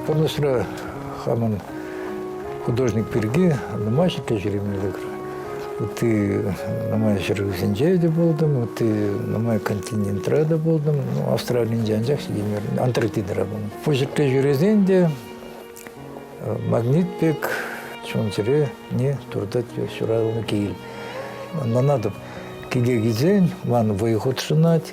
Пурнӑҫра хамӑн художник пирки нумай ҫитсе ҫӳреме лекрӗ. ытти нумай ҫӗршывсенче те пултӑм, ытти нумай континентра та пултӑм. Ну, Австралинче анчах ҫитеймерӗм, Антарктидӑра пулнӑ. Пушӑркка ҫӳресен те э, магнит пек чун-чӗре не туртать ҫуралнӑ кил. Ӑнланатӑп, киле килсен ман вӑй хутшӑнать,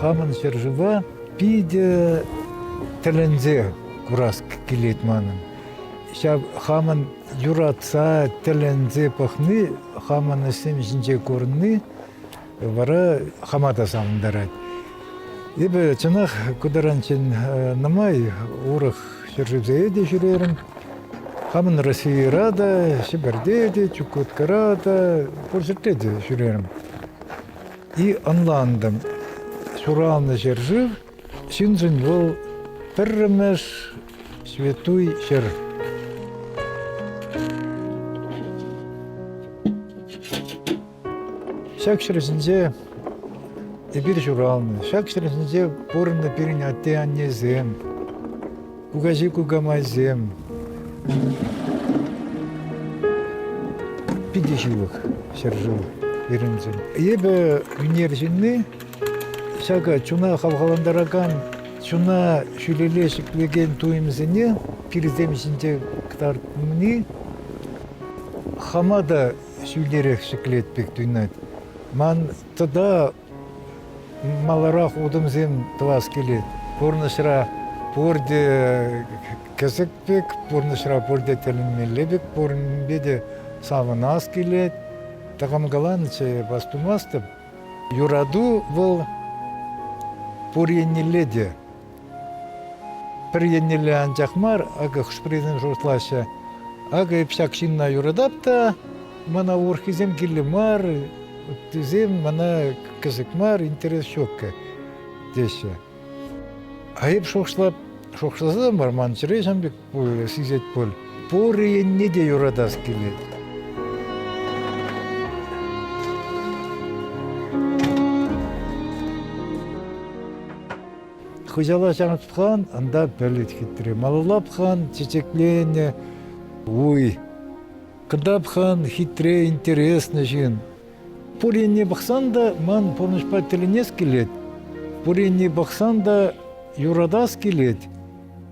Хамӑн ҫӗршыва питӗ тӗлӗнсе курас килет манӑн. Ҫав хамӑн юратса, тӗлӗнсе пӑхни, хамӑн ӗҫсем ҫинче курни вара хама та савӑнтарать. Эпӗ чӑнах ку таранччен нумай урӑх ҫӗршывсене те ҫӳрерӗм. Хамӑн Российӑра та, Ҫӗпӗрте те, Чукуткара та, пур ҫӗрте те ҫӳрерӗм. И ӑнлантӑм, ҫуралнӑ ҫӗршыв ҫыншӑн вӑл пӗрремӗш ҫветтуй ҫӗр. Ҫак ҫӗршӗнче эпир ҫуралнӑ. Ҫак ҫӗршӗнче пурӑннӑ пирӗн атте-аннесем, кукаҫи кукамайсем питӗ ҫывӑх ҫӗршыв пирӗншӗн. Эпӗ ӳнер ҫынни, ҫакӑ чуна хавхалантаракан, чуна ҫӳлелле ҫӗклекен туйӑмсене килсем ҫинче кӑтартни хама та ҫӳлерех ҫӗклет пек туйӑнать. Ман тата маларах утӑмсем тӑвас килет. Пурнӑҫра пурте кӗсӗк пек, пурнӑҫра пурте тӗлӗнмелле пек, пуринпе те савӑнас килет. Тӑкӑмкаланӑччӗ эп, астумастӑп. Юрату вӑл пур еннелле те. Пӗр еннелле анчах мар, акӑ хӑш-пӗрисем шутлаҫҫӗ, акӑ эп ҫак ҫынна юратап та мана урӑххисем кирлӗ мар, ыттисем мана кӗсӗк мар, интерес ҫуккӗ, теҫҫӗ. А эп шухӑшлап, шухӑшласа та мар, ман чӗре ҫавӑн пек сисет пуль. Пурӗ енне те юратас килет. Хуҫала ҫанатлан анда пӗлет хитре. Малулапхан чечекленӗ уй. Кдапхан хитре, интересный ҫын. Пуринне пӑхсан та ман пурнӑҫпа тӗлӗнес килет. Пуринне пӑхсан та юратас килет.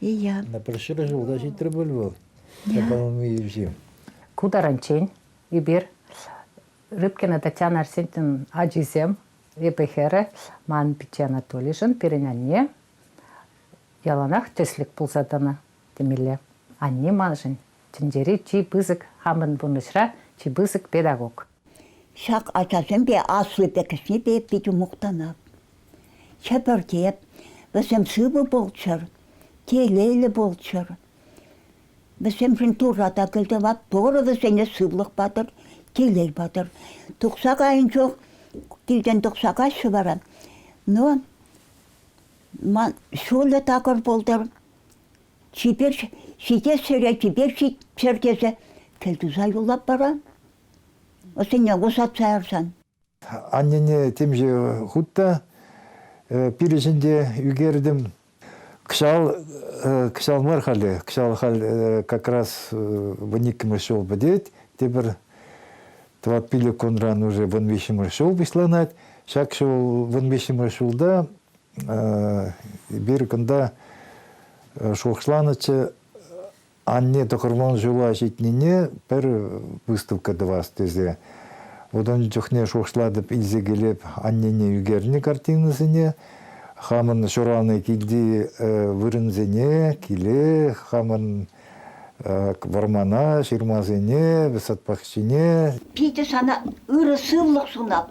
Я. На прошлый раз туда ҫитрӗ пуль вӑл. По-моему, и Ку таранччен эпир Рыбкина Татьяна Арсентьевнан ачисем, эпӗ хӗрӗ, ман пичче Анатолишӗн, пирӗн анне яланах тӗслӗк пулса тӑнӑ темелле. Анне маншӑн Тӗнчери чи пысӑк хамӑн пурнӑҫра чи пысӑк педагог. Ҫак ачасемпе асли пӗкӗснепе питӗ мухтанап. Хӗпӗртеп, вӗсем сывӑ пулччӑр, телейлӗ пулччӑр. Вӗсемшӗн Турра та кӗлтӑват, Турӑ вӗсене сывлӑх патӑр, телей патӑр. Тухса кайӑн чух килтен тухса каҫҫӗ вара. Но ман ҫулӗ такӑр пултӑр, чипер ҫитес ҫӗре чипер ҫитччӗр тесе кӗлтуса юлап вара. Ӑсене усатса ярсан. Аннене темиҫе хут та пирӗн те ӳкертӗм. Кӑҫал, кӑҫал мар халӗ, кӑҫал халь как раз вун иккӗмӗш ҫул пӗтет. Тепӗр тӑват пилӗк кунран уже вун виҫҫӗмӗш ҫул пуҫланать. Ҫак ҫул вун виҫҫӗмӗш ҫулта Эпир кунта шухӑшланӑччӗ, анне тӑхӑрман ҫула ҫитнине пӗр выставка тӑвас тесе. Вот ун чухне шухӑшлатӑп, илсе килеп аннене ӳкернӗ картинӑсене, хамӑн ҫуралнӑ килти вырӑнсене, киле, хамӑн вӑрмана, ҫырмасене, сад пахчине. Питӗ сана ырӑ сывлӑх сунап.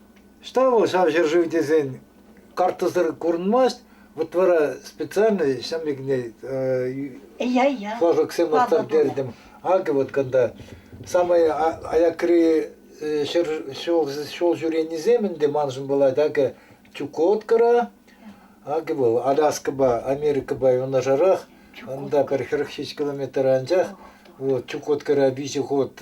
Ӑҫта вӑл ҫав ҫӗршыв тесен карттӑсӑр курӑнмасть. Вот вара специально ҫын пекне флажоксем ларттартертӗм. Акӑ вот кунта самай аякри ҫул ҫӳренисем ӗнтӗ маншӑн пулать. Акӑ Чукоткӑра, акӑ вӑл Аляскӑпа, Америкӑпа юнашарах. Ӑнта пӗр хӗрӗх ҫич километр анчах. Вот Чукоткӑра виҫӗ хут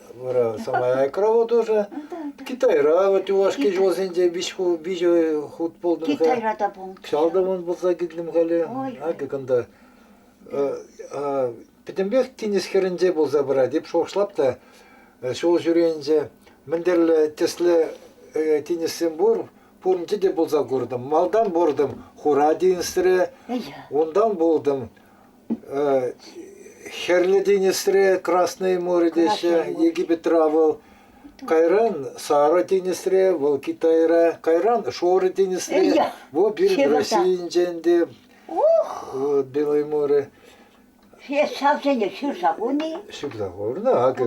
Вара самая айкрова тоже. Китайра вот юлашки ҫулсенче виҫӗ хут пулдым. Китайра та пулнӑ. Кҫалтӑмӑн пулса килтӗм халӗ. Акӑ кунта. Пӗтӗмпех тинӗс хӗрӗнче пулса пырать. Эп шухӑшлап та ҫул ҫӳренче мӗнтерле тӗсле тинӗссем пур, пуринче те пулса куртӑм. Малтан пуртӑм хура тинӗсре, унтан пултӑм Хӗрлӗ тинӗсре Красное море теҫҫӗ, Египетра вӑл. Кайран Сара тинӗсре, вӑл Китайра. Кайран Шорӑ тинӗсре. Вӑл пирӗн Российӗнчен те. Белое море. Есть сравнение всю загоны. Всегда ҫырнӑ. Акӑ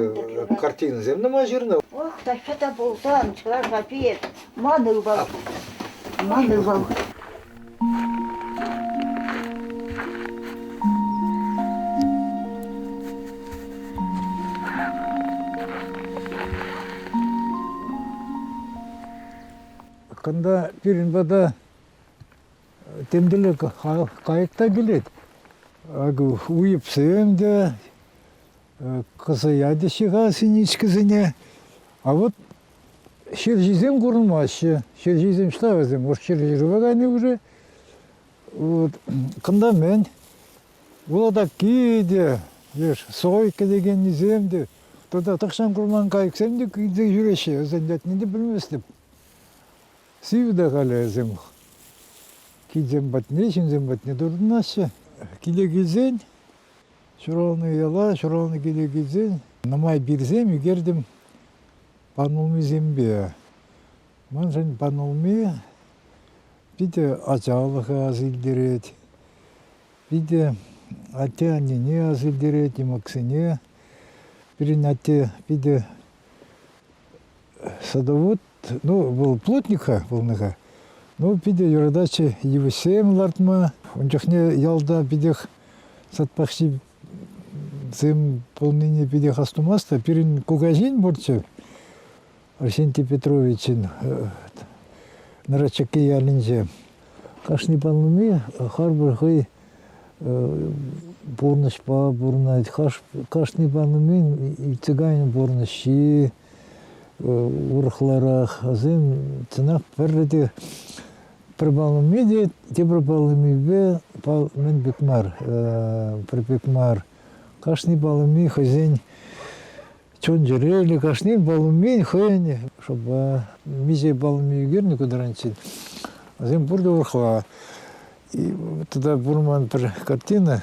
картинӑсем нумай ҫырнӑ. Ох, та что-то бултан, чӑваш вообще. Ман ывал. Ман ывал. Кунта пирӗн пата темтеле кайӑк та килет. Акӑ уйӑпсем те, кӑсӑят ӗҫе-ха синичкӑсене. А вот ҫерҫисем курӑнмаҫҫӗ. Ҫерҫисем ҫта вӗсем, уж ҫерҫирупа кайни уже. Вот. Кунта мӗн? Улатакки те, леш сойка текеннисем те, тата тахҫан курман кайӑксем те килсе ҫӳреҫҫӗ. Вӗсен ятне те пӗлместӗп. Сив та халӗ вӗсем. Килсем патне, ҫынсем патне туртӑнаҫҫӗ. Киле килсен Ҫуралнӑ яла ҫуралнӑ киле килсен нумай пирсем ӳкертӗм панулмисемпе. Маншӑн панулми питӗ ачалӑха ас илтерет, питӗ атте-аннене ас илтерет, йӑмӑксене. Пирӗн атте питӗ садовод, ну, был плотника пулнӑ-ха. Ну, питӗ юрататчӗ йывӑҫсем лартма. Ун чухне ялта питех сад пахчи сым пулнине питех астумасть та пирӗн кукаҫин пурччӗ, Арсентий Петровичӑн Нрачаки ялӗнче. Кашни паллуми харпӑр хӑй пурнӑҫпа пурӑнать. Кашни паллумин цыган пурнӑҫҫи, урӑхларах. Вӗсем чӑнах пӗрре те пӗр паллине те тепӗр паллимипе мӗн пек мар, пӗр пек мар. Кашни паллими хӑйсен чун-чӗреллӗ, кашни паллимин хӑйӗн, чтобы миҫе паллими ӳкернӗ кӑтранччен, вӗсем пурте урӑхла. Тата пур ман пӗр картина.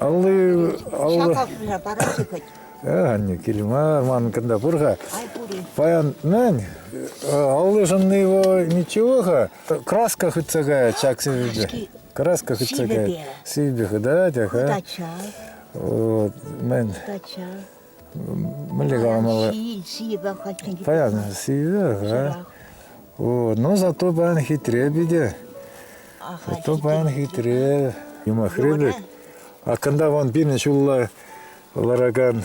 Аллы, аллы. Шакакна парашы кыть. Э, анне, кил мар, ман кында пур-ха. Ай пури. Паян, нань, аллышынны его ничего-ха. Краска хоть такая, чак себе. Краска хоть такая. Себе, да, тяха. Удача. Мен мӗнле каламалла? Паян сивӗ, но зато паян хитре питӗ. Зато паян хитре. Юмахри пек. А когда вон пирӗн ҫулла ларакан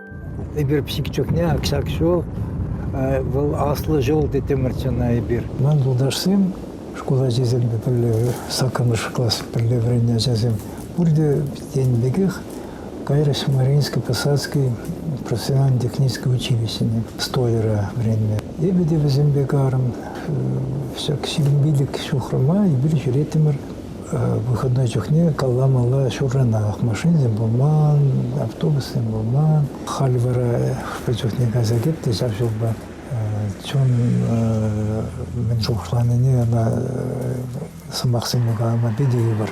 Эпир пӗчӗк чухне ак-ҫак ҫул, вӑл аслӑ ҫул тетӗмӗрччӗ ӑна эпир. Ман юлташсем, шкул ачисемпе пӗрле, саккӑрмӗш класс пӗрле вӗреннӗ ачасем, пурте тенӗ пекех кайрӑҫ Мариинский Посадский профессионально-технический училищӗне стойера вӗреннӗ. Эпӗ те вӗсемпе карӑм. Ҫак ҫирӗм пилӗк ҫухрӑма эпир ҫӳреттӗмӗр. Выходной чухне калла мала ҫурранах машинсем пулман, автобуссем пулман. Халь вара хӑш чухне кайса кӗртнӗ ҫав ҫулпа. Чун мӗн шухӑшланине ӑна сӑмахсене калама питӗ йывӑр.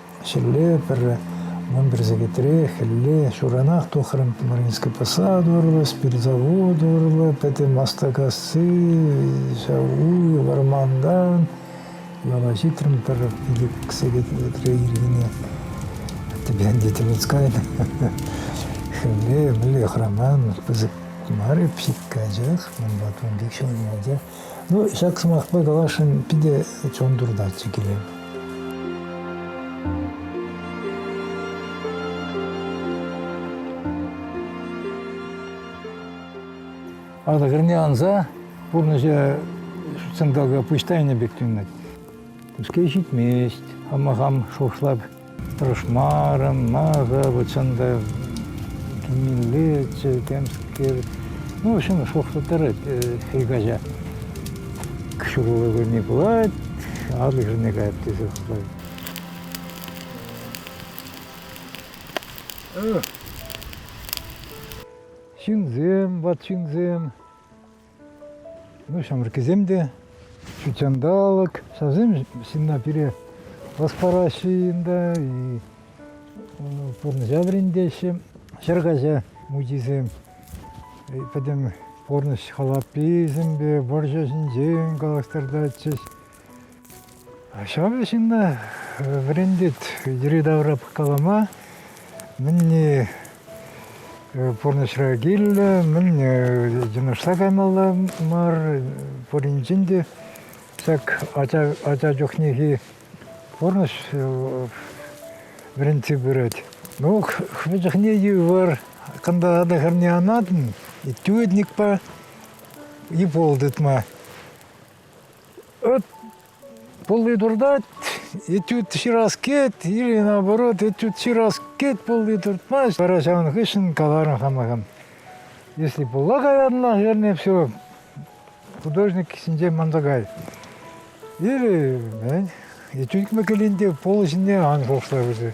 Хӗлле пӗр вунпӗр сехетре хӗлле ҫуранах тухрӑм. Мариинский посад урлӑ, спиртзавод урлӑ, пӗтӗм Астакасси, ҫав уй, вӑрмантан ывӑла ҫитрӗм пӗр ик-ик сехетлӗтре ирхине. Тепе ӗнтӗ тӗлӗнсе кайнӑ. Хӗлле мӗнле хӑраман, пысӑк мар пӗчӗк, анчах унпа тун пек ҫӑлӑнатчӗ. Ну, ҫак сӑмахпа каласшӑн питӗ чун туртатчӗ киле. Ата кӗрне анса пурнӑҫа ҫутҫанталӑка пуҫ тайнӑ пек туйӑнать. Пускай ҫитмест, хама хам шухӑшлап Тӑшмарӑм, мӑшӑр, чӑн та кимеллеччӗ, темскер. Ну, в общем, шухӑшлӑ тӑрать хӗл каҫа. Ҫурӑлу кунне пулать, адлӑк шӑнне каять тесе шутлать. Ҫынсем, ват ҫынсем. Ҫамрӑккисем те ҫут ҫанталӑк, ҫавсем ҫынна пире ӑс параҫҫӗ ӗнтӗ, пурнӑҫа вӗрентеҫҫӗ. Ҫӗр каҫа мучисем пӗтӗм пурнӑҫ халапписемпе вӑрҫӑ ҫинчен калаҫтартатчӗҫ. Ҫавӑн ҫынна вӗрентет йӗри-тавра калама, мӗнне пурнӑҫра кирлӗ, мӗнне йӑнӑшса каймалла мар. Пуринчен те ҫак ача чухнехи пурнӑҫ вӗрентсе пырать. Ну, хӑвӑн чухне йывӑр, кунта та хӗрне анатӑн, и тюдникпа, и пол тытма. Ыт пулли туртать, этюд ҫыраскет или наоборот этюд ҫыраскет пулли туртмасть. Вара ҫавӑн хыҫҫӑн каларӑм хамахам. Если пулла каянна, вернее всего, художник ҫинчен манса кай. Или, мӗн, этюд кӗме кӗрен те полӑ ҫине ан шухӑшла вӗсем.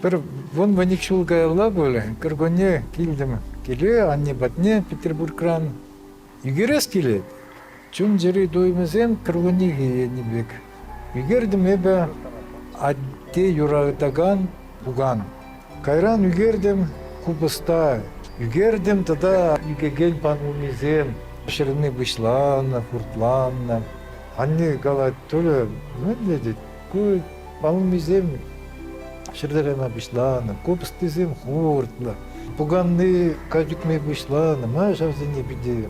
Пӗр вун-вуник ҫул каялла пулӗ, кӗркунне килтӗм. Киле анне патне Петербургран Ӳкерес килет. Чун-чӗри туйӑмӗсем кӗркуннехи енни пек. Ӳкертӗм эпӗ атте юратакан пукан. Кайран ӳкертӗм купӑста, ӳкертӗм тата ӳкекен панулмисем. Ҫӗрни пуҫланнӑ, хуртланнӑ. Анне калать, Толя, мӗнле тет? Ку паллисем ҫӗрлерена пуҫланӑ, купӑстисем хуртлӑ. Пуканни качӑкми пуҫланӑ, ман ҫавсене питӗ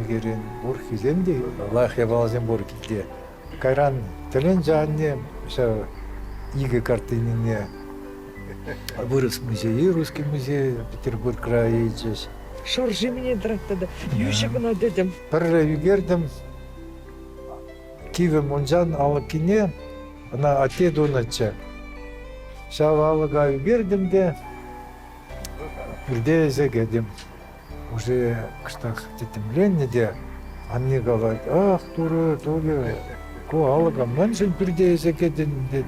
ӳкерен пурхисем те, лах япаласем пур килте. Кайран тӗленчӗ анне ҫав икӗ картинине вырӑс музейӗ, русский музей Петербург крайӗ илчӗҫ. Шӑрши мӗне тӑрать тата? Йӳҫӗ кӑна тӗтӗм. Пӗрре ӳкертӗм, Кивӗ мунчан алӑккине ӑна атте тунӑччӗ. Ҫав алӑка ӳкертӗм те пӳрте илсе кӗтӗм. Уже кӑштах тӗттӗмленнӗ те анне калать, ах, турӑ, турӑ, ку алӑка мӗншӗн пӳрте илсе кӗтӗн, тет.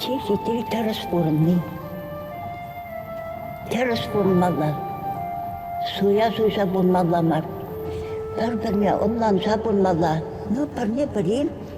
Сехетри тӗрӗс пурӑнни. Тӗрӗс пурӑнмалла. Суя суйса пурӑнмалла мар. Пӗр-пӗрне ӑнланса пурӑнмалла. Ну, пӗрне пӗрин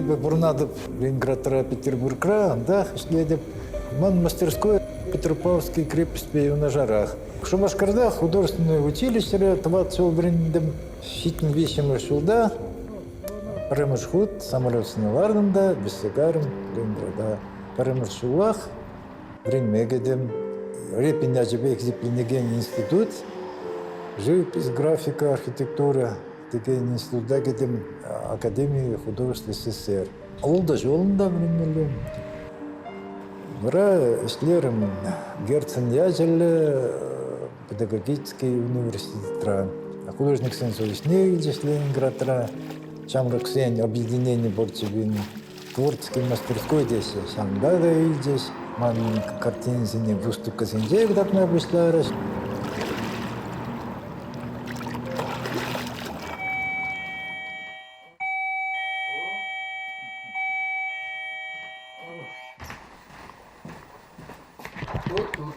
Эпӗ пурӑнатӑп Ленинградра, Петербургра, да, ӗҫлетӗп. Ман мастерской Петропавловский крепостьпе юнашарах. Шупашкарта художественное училищере тӑватӑ ҫул вӗрентӗм. Ҫитмӗл виҫҫӗмӗш ҫулта пӗрремӗш хут самолет сӑнаварӑм та, бесегарым Ленинграда. Пӗрремӗш ҫулах вӗренме кӗтӗм. Репин ячӗпе хисепленекен институт, живопись, графика, архитектура текен института кӗтӗм, Академии художественной СССР. Авалда ҫулында вӗренмелле. Вара ӗҫлерӗм Герцен ячӗллӗ педагогический университетра. Художниксен совещание илчӗ Ленинградра, ҫамрӑксен объединений борчевин Творческий мастерской теҫҫӗ. Ҫавӑнпа та илчӗҫ. Ман картинӑсене выставкӑсенче кӑтартма пуҫларӗҫ. Тут-тут.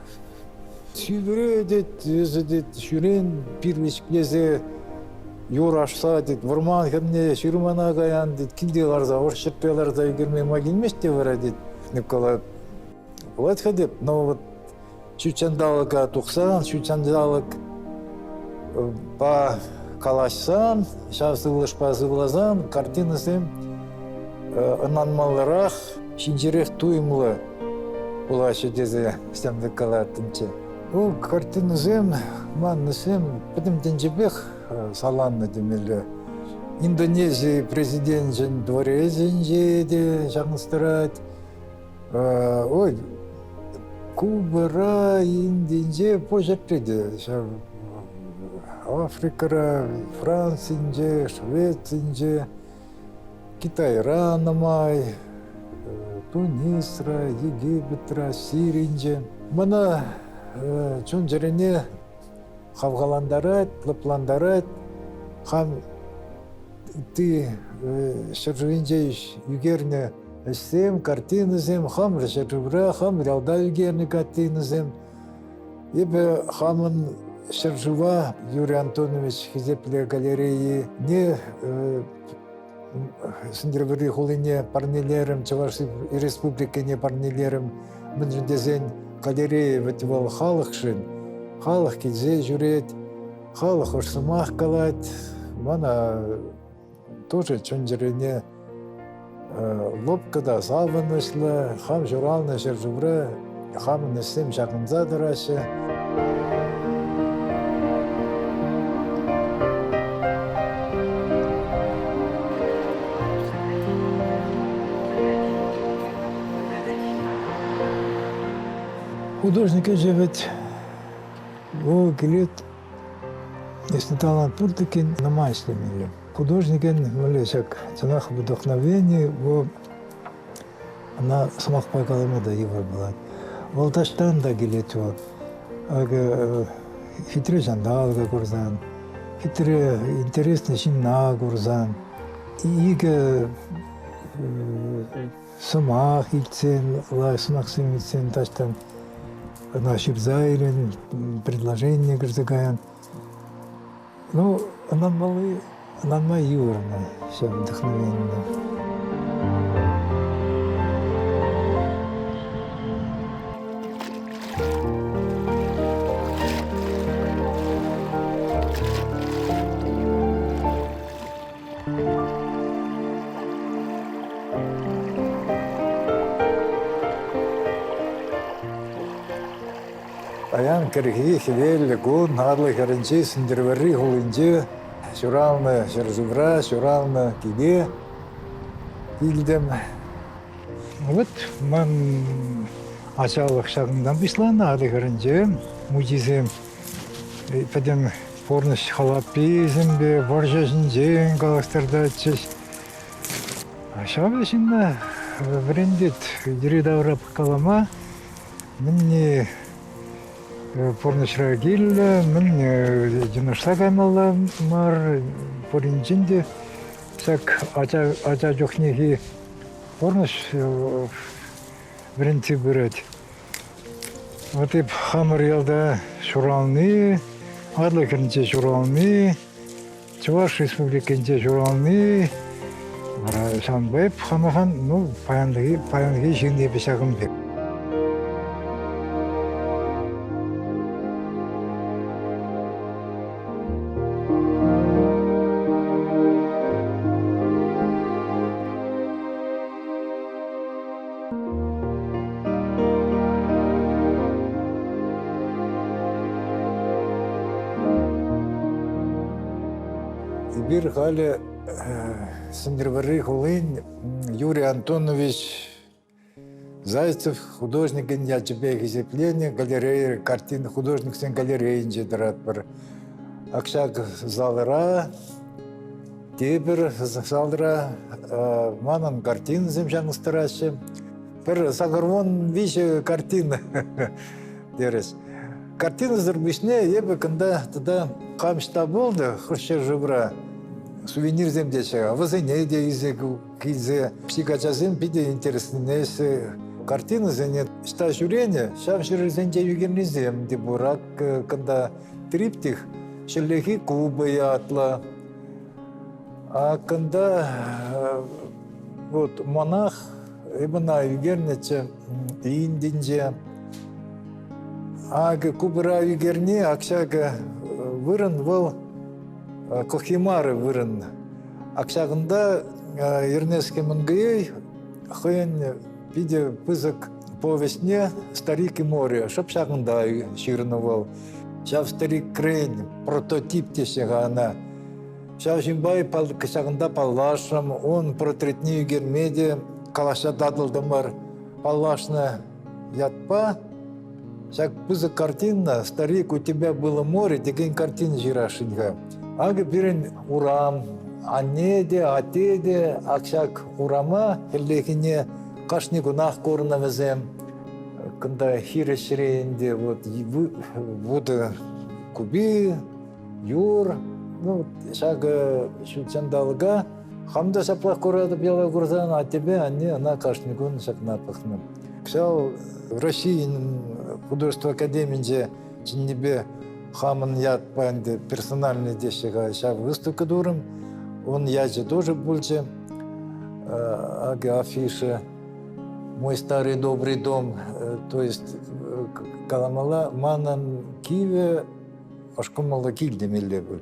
Сивре, тет, эсӗ, тет, ҫӳрен пирвӗҫклесе юр ашса, тет, вӑрман хӗрне ҫырмана каян, тет, килте ларса, ӑш ҫӗппе ларса ӳкерме май килмест те вара, тет Николай. Пулать-ха теп, но вот ҫут ҫанталӑка тухсан, ҫут ҫанталӑк калаҫсан, ҫав сывлӑшпа сывласан картинӑсем ӑнланмалларах, ҫинҫерех туйӑмлӑ. Улаҫу тесе ҫамрӑк калаттӑмччӗ. Ку картинӑсем, маннӑсем пӗтӗм тӗнчепех саланнӑ темелле. Индонези президенчӗн дворецӗнче те чанӑстарать. Ой, Кубӑра Индинче пуҫӗпре те ҫав Африкӑра, Францинче, Швецинче Китайра нумай, Тунисра, Египетра, Сиринче. Мана чун-чӗрене хавхалантарать, лӑплантарать. Хам ытти ҫӗршывӗнче ӳкернӗ ӗҫсем, картинӑсем, хамӑр ҫӗршывра, хамӑр ялта ӳкернӗ картинӑсем. Эпӗ хамӑн ҫӗршыва Юрий Антонович Хисеплӗ галерейине Сӗнтӗрвӑрри хулине парнелерӗм, Чӑваш Республикине парнелерӗм. Мӗншӗн тесен галерея вӗт вӑл халӑхшӑн. Халӑх килсе ҫӳрет, халӑх ӑш сӑмах калать. Мана Тусӗ чун-чӗрене лӑпкӑ та савӑнӑҫлӑ. Хам ҫуралнӑ ҫӗршывра хамӑн ӗҫсем ҫакӑнса тӑраҫҫӗ. Художник ӗҫӗ вӗт, вӑл килет Если талант пур текен, нама ӗҫлемелле. Художникӑн мӗнле ҫак чӑнах вдохновение, вӑл ӑна сӑмахпа калама та йывӑр пулать. Вӑл таҫтан та килет вӑл. Акӑ хитре ҫанталӑка курсан, хитре интересный ҫынна курсан, икӗ сӑмах илтсен, лайӑх сӑмахсем илтсен таҫтан ӑна ҫырса илӗн, предложение кӗрсе каян. Ну, ӑнланмалли, ӑнланма йывӑрнӑ ҫав вдохновение. Паян кӗрхи хӗвеллӗ кун Арлӑ хӗрӗнчи Сӗнтӗрвӑрри хулинче ҫуралнӑ ҫӗршывра ҫуралнӑ кӗпе илтӗм. Вот ман ачалӑх ҫакӑнтан пуҫланнӑ Арлӑ хӗрӗнче мучисем Пӗтӗм пурнӑҫ халапписемпе вӑрҫӑ ҫинчен калаҫтартатчӗҫ. Ҫавӑ ҫынна вӗрентет. Йӗри-тавра калама мӗнне пурнӑҫра кирлӗ, мӗнне йӑнӑшса каймалла мар. Пуринчен те ҫак ача чухнехи пурнӑҫ вӗрентсе пырать. Вот эп хамӑр ялта ҫурални, Атӑл хӗрринче ҫурални, Чӑваш Республикинче ҫурални, вара ҫавӑнпа эп хамахан, ну, паянхи, паянхи ҫын эпӗ ҫакӑн пек. Эпир халӗ Сӗнтӗрвӑрри хулин Юрий Антонович Зайцев художникӗн ячӗпе хисепленӗ галерея картин художниксен галерейинче тӑратпӑр. Акҫак залра Тепӗр залра манӑн картинӑсем чавӑнтараҫҫӗ. Пӗр сакӑрвун виҫӗ картина терӗҫ. Картинӑсӑр пуҫне эпӗ кунта тата кам ҫта пулнӑ хӑш ҫӗршывра сувенирсем теҫҫӗ, вӗсене те илсе килсе психачасем питӗ интереснине картинӑсене ҫта ҫӳренӗ, ҫав ҫӗрсенче ӳкернисем те пур. Ак кунта триптих, ҫӗрлехи Куба ятлӑ, А кунта вот монах имена ӳкернӗччӗ Индинче. Акӑ купӑра ӳкерни общага вырӑн вӑл кухимары вырӑн. Общагында Эрнеске Мангуей хӑйӗн питӗ пысӑк Повеҫне «Старик и море» шӑп ҫакӑнта ҫырнӑ вӑл. Ҫав старикрен прототип теҫҫӗ-ха ӑна. Ҫав ҫынпа ҫакӑнта паллашрӑм, ун портретне ӳкерме те калаҫса татӑлтӑмӑр. Паллашнӑ ятпа ҫак пысӑк картина «Старик, у тебя было море» текен картина ҫырасшӑн-ха. Акӑ пирӗн урам, анне те, атте те ак ҫак урама хӗллехине Кашни кунах курнӑ вӗсем. Кунта хирӗҫ ре ӗнтӗ вот вутӑ купи, юр, ну, ҫакӑ ҫутҫанталӑка хам та ҫаплах куратӑп яла курсан, а тебе, анне, она кашни кун ҫакна пӑхнӑ. Кӑҫал Российӗн художество академинче Чӑннипе хамӑн ятпа ӗнтӗ персональный теҫҫӗ-ха ҫав выставка турӑм. Ун ячӗ тоже пулчӗ, афиша «Мой старый добрый дом», э, то есть э, каламала манӑн кивӗ ӑшкӑмӑллӑ кил темелле пуль.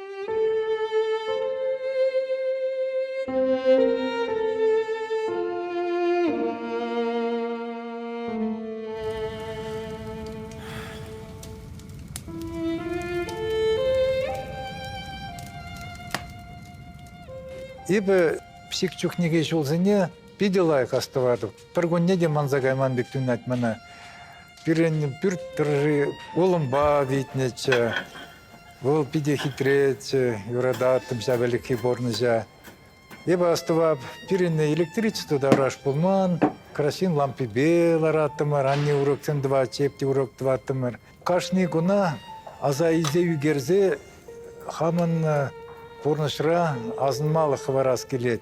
Эпӗ псих чухнехи ҫулсене питӗ лайӑх астӑватӑп. Пӗркунне те манса кайман пек туйӑнать мана. Пирӗн пӳрт тӑрӑши улӑмпа витнӗччӗ. Вӑл питӗ хитреччӗ, юрататтӑм ҫав ӗлӗкхи пурнӑҫа. Эпӗ астӑвап, пирӗн электричество та ыраш пулман. Краҫҫын лампипе лараттӑмӑр, анне уроксем тӑватчӗ, эп те урок тӑваттӑмӑр. Кашни куна аса илсе ӳкерсе хамӑн пурнӑҫра асӑнмалӑх хӑварас килет.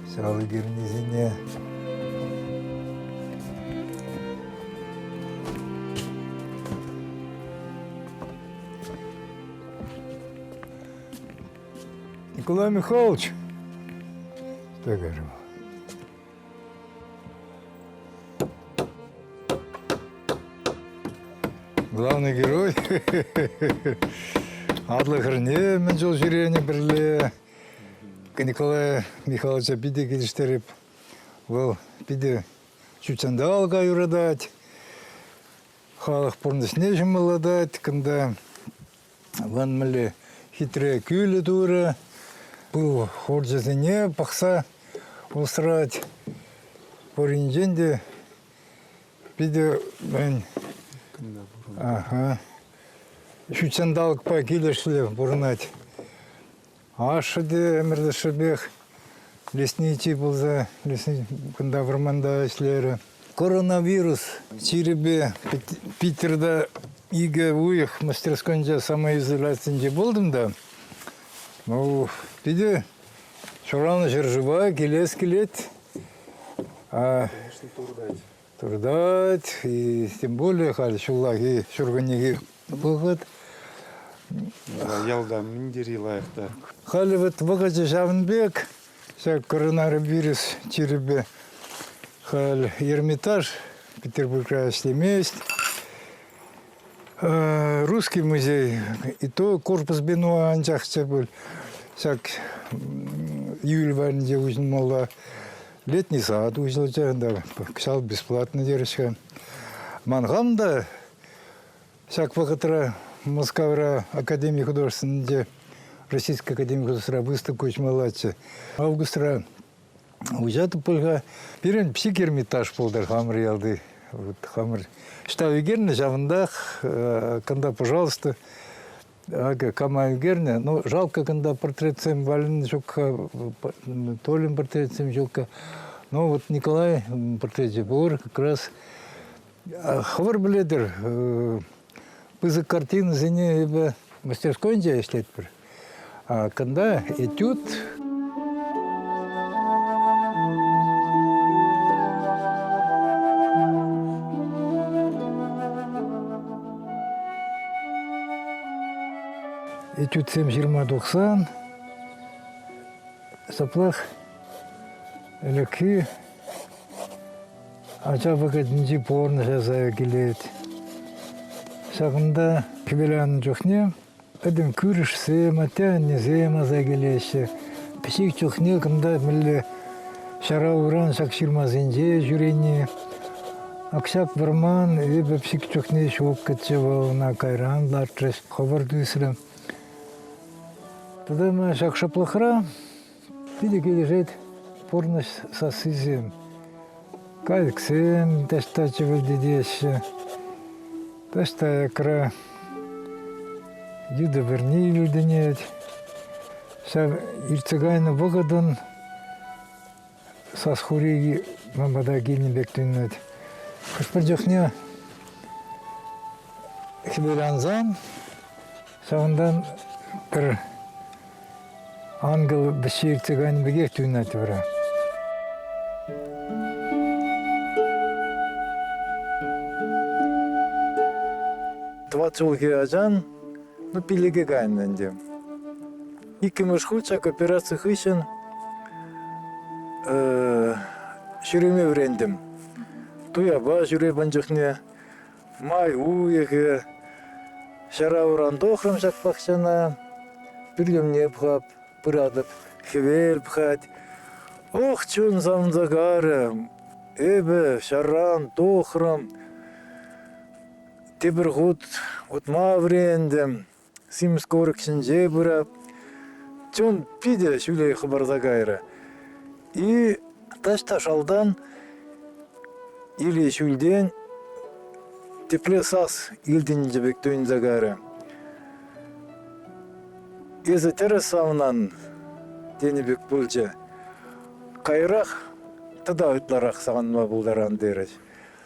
Сӑралли пирӗннисене Николай Михайлович, так же. главный герой. Атлӑ хӗрне мӗн чул ҫӳренӗ пӗрле. Николай Михайловича питӗ килӗштереп. Вӑл питӗ ҫут ҫанталӑка юратать, халӑх пурнӑҫне ҫӑмӑллатать. Кунта вӑн мӗнле хитре кӳлӗ турӗ. Пыл хурчӗсене пӑхса усрать. Пуринчен те питӗ ага, Ҫутҫанталӑкпа килӗшлӗ пурӑнать. Ашшӗ те ӗмӗрлӗшӗпех лесничий пулса кунта вӑрманта ӗҫлерӗ. Коронавирус чирӗпе Питерта икӗ уйӑх мастерскойӗнче самоизоляцинче пултӑм та. Ну, питӗ ҫуралнӑ ҫӗршыва килес килет. А, Туртать, тем более халь ҫуллахи ҫуркуннехи вӑхӑт. Ялта мӗн тери лайӑх та. Халь вот вӑхӑчӗ ҫавӑн пек, ҫак коронавирус чирӗпе халь Эрмитаж Петербургра ӗҫлемест. Русский музей, и то корпус бенуа анчах те пуль, ҫак июль варринче уҫӑлмалла. Летний сад уҫӑлчӗ, кӑҫал бесплатно терӗҫ. Ман хам та ҫак вӑхӑтра Мускавра Академи художественнинче Российская Академия художественного выставка уҫмаллаччӗ. Августра Уҫатӑп пуль-ха. Пирӗн психгермитаж пултӑр хамӑр ялти. Вот хамӑр ӑҫта ӳкернӗ, ҫавӑнтах кунта, пожалуйста, акӑ кама ӳкернӗ. Ну, жалко кунта портретсем валены ҫук-ха, Толин портретсем ҫук-ха. Ну, вот Николай портречӗ пур как раз. Хӑвӑр пӗлетӗр, Пысӑк картинӑсене эпӗ мастерскойӗнче ӗҫлетпӗр. А кунта этюд, этюдсем ҫырма тухсан, ҫаплах ӗлӗкхи Ача вӑхӑтӗнчи пурнӑҫа сая килет. Ҫакӑнта хӗвеланнӑ чухне пӗтӗм кӳршӗсем, атте-аннесем аса килеҫҫӗ. Пӗчӗк чухне кунта мӗнле ҫара уран ҫак ҫырмасенче ҫӳрени. Акҫап вӑрман, эпӗ пӗчӗк чухне ҫуккӑччӗ вӑл, ӑна кайран лартрӗҫ, хӑвӑрт ӳсрӗм. Тата ҫак шӑплӑхра Питӗ килӗшет пурнӑҫ сассисем. Кайӑксем таҫта чӗвӗлтетеҫҫӗ. Таҫта аякра йытӑ вӗрне илтӗнет. Ҫав иртсе кайнӑ вӑхӑтӑн сас хуреки ман пата килнӗ пек туйӑнать. Хӑш-пӗр чухне хӗвелансан Ҫавӑнтан пӗр ангел вӗҫҫи иртсе кайнӑ пекех туйӑнать вара. Тӑват ҫулхи ачан ну, пиллӗке кайнӑ ӗнтӗ. Иккӗмӗш хут ҫак операци хыҫҫӑн ҫӳреме вӗрентӗм. Туяпа ҫӳре пан чухне Май уйӑхӗ. Ҫара уран тухрӑм ҫак пахчана. Пӳлӗмне пӑхап, пыратӑп. Хӗвел пӑхать. Ох, чун сансӑкарӗ. Эпӗ ҫарран тухрӑм. Тепӗр хут утма вӗрентӗм. Симӗс курӑк ҫинче пыра. Чун питӗ ҫӳле хӑпарса кайрӗ. И таҫта шалтан Или ҫӳлтен тепле сас илтӗнчӗ пек туйӑнса кайрӗ. Эсӗ тӗрӗс авнан, тенӗ пек пулчӗ. Каярах тата ытларах савӑнма пултаран терӗҫ.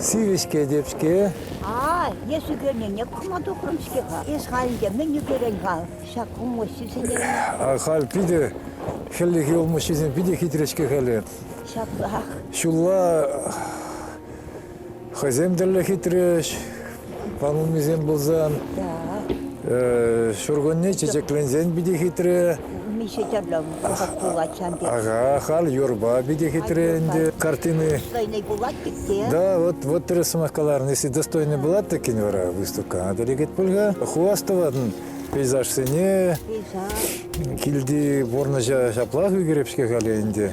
Сивӗ-ҫке теп-ҫке. А, эс ӳкернине кума тухрӑм-ҫке-ха. Эс халь ӗнтӗ мӗн ӳкерен-ха ҫак улмуҫҫисене? Халь питӗ, хӗллехи улмуҫҫисем питӗ хитре-ҫке халӗ. Ҫаплах. Ҫулла хӑйсем тӗллӗ хитрӗҫ. Панулмисем пулсан, ҫуркунне чечекленсен питӗ хитре. Миша Чарлам пӑхать пулать ҫав тери. Ага, халь юрпа питӗ хитре ӗнтӗ картины. Достойный пулать-тӗк Да, вот, вот тӗрӗс сӑмах каларӑн. Если достойный була тӗккин вара выставка, надо легет пульга. Хвастоватӑн пейзажсене. Пейзаж. Килти пурнӑҫа ҫаплах ӳкереп-ҫке халӗ ӗнтӗ.